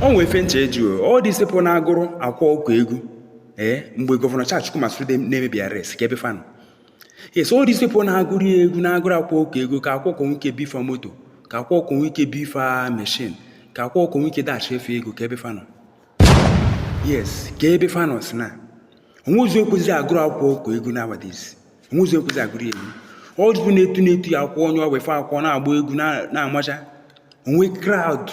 o nwe ife m chọ ịjụ all these people na-agụrụ akwa ọkụkọ egwu ee mgbe gọvanọ Charles Chukwuma Soludo na-emebi arrest kee ebe fa nọ yes all these people na-agụrụ ya egwu na-agụrụ akwa ọkụkọ egwu ka akwa ọkụkọ nwee ike bi fa moto ka akwa ọkụkọ nwee ike bi fa meshin ka akwa ọkụkọ nwee ike dashie fa ego kee ebe fa nọ yes kee ebe fa nọ si na o nwezi ekwezi agụrụ akwa ọkụkọ egwu nowadays o nwezi ekwezi agụrụ ya egwu ndị afụ na-etu na-etu ya akwa onye ọba ife akwa na-agba egwu na-amacha o nwe crowd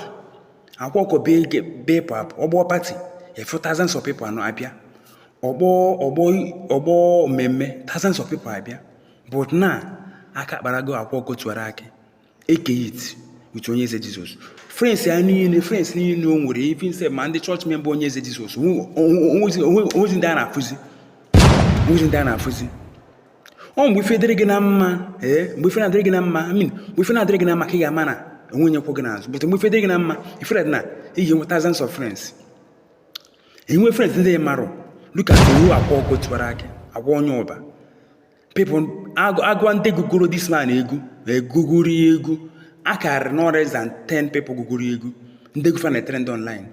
akwa ọkụkọ be ịpụ apụ ọgbọ party ị fụ thousands of people anọ abịa ọgbọ ọgbọ ọgbọ mmemme thousands of people abịa but na aka kparago akwa ọkụkọ tiwara akị eke hit with onye eze Jesus friends ya niile friends niile o nwere even sef ma ndị church member onye eze Jesus o nwezi ndị a na-afụzi o nwezi ndị a na-afụzi ọ mgbe ife dịrị gị na mma ee mgbe ife na-adịrị gị na mma I mean mgbe ife na-adịrị gị na mma ka ị ga-ama na o nwe onye kwụ gị n'azụ but mgbe ife dịrị gị na mma ị fụ that na ị ya-enwe thousands of friends enwe friends ndị marụ look at akwa ọkụkọ tiwara akị akwa onye ọba people agwa ndị gụgoro this man egwu gụgoro ya egwu akarịrị no less than 10 people gụgoro ya egwu ndị egwu fa na trend online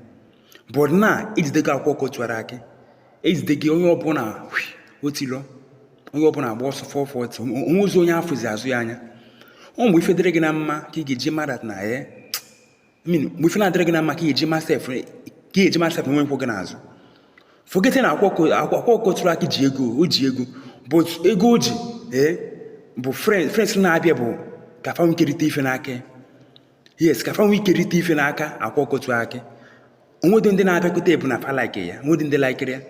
but na ejidego akwa ọkụkọ tiwara akị ejidego onye ọbụla otilọ onye ọbụla agba ọsọ 440 o nwezi onye afụzi azụ ya anya ọ mgbe ife dịrị gị na mma ka ị ga-eji ma that na I mean mgbe ife na-adịrị gị na mma ka eji ma sef ka eji ma sef nwe onye kwụ gị n'azụ forget na akwa ọkụkọ tiwara akị ji ego o ji ego but ego o ji ee eh, bụ friends na-abịa bụ ka fa nwe ike rita ife n'aka yes ka fa nwe ike rita ife n'aka akwa ọkụkọ tiwara akị o nwedo ndị na-abịakwute bụ na fa like ya o nwedo ndị laikiri ya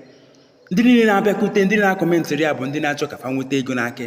ndị niile na-abịakwute ndị na-akọmentịrị ya bụ ndị na-achọ ka fa nweta ego n'aka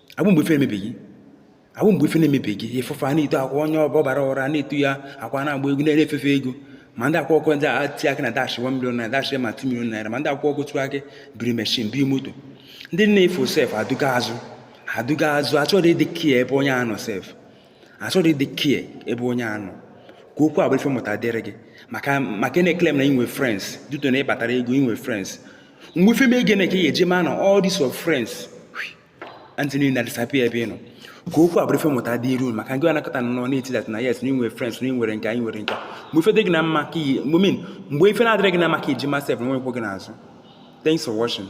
agbụ mgbe ife emebeghị agbụ mgbe ife na-emebeghị ị fụ fa na-eto akwa onye ọba na-eto ya akwa na-agba egwu na-efefe ego ma ndị akwa ọkụkọ tiwara akị na dash 1 million na dash ma 2 million naira ma ndị akwa ọkụkọ tiwara akị biri meshin biri moto ndị na-efu sef aduga azụ aduga azụ achọrọ ịdị care ebe onye a nọ sef achọrọ ịdị care ebe onye a nọ ka okwu a bụrụ ife mmụta dịrị gị maka maka ị na-eklem na ị nwe friends due to na ị kpatara ego ị nwe friends mgbe ife mee gị ka ị ga-eji ma na all these of friends ndị niile na-adisappear ebe ị nọ ka okwu a bụrụ ife mmụta dịrị unu maka ndị anakọta nọ na-eti that na yes na ị nwere friends na ị nwere nke a ị nwere nke mgbe ife dị gị na mma ka I mean mgbe ife na-adịrị gị na mma ka ị ji ma sef na o nwe onye kwụ gị n'azụ thanks for watching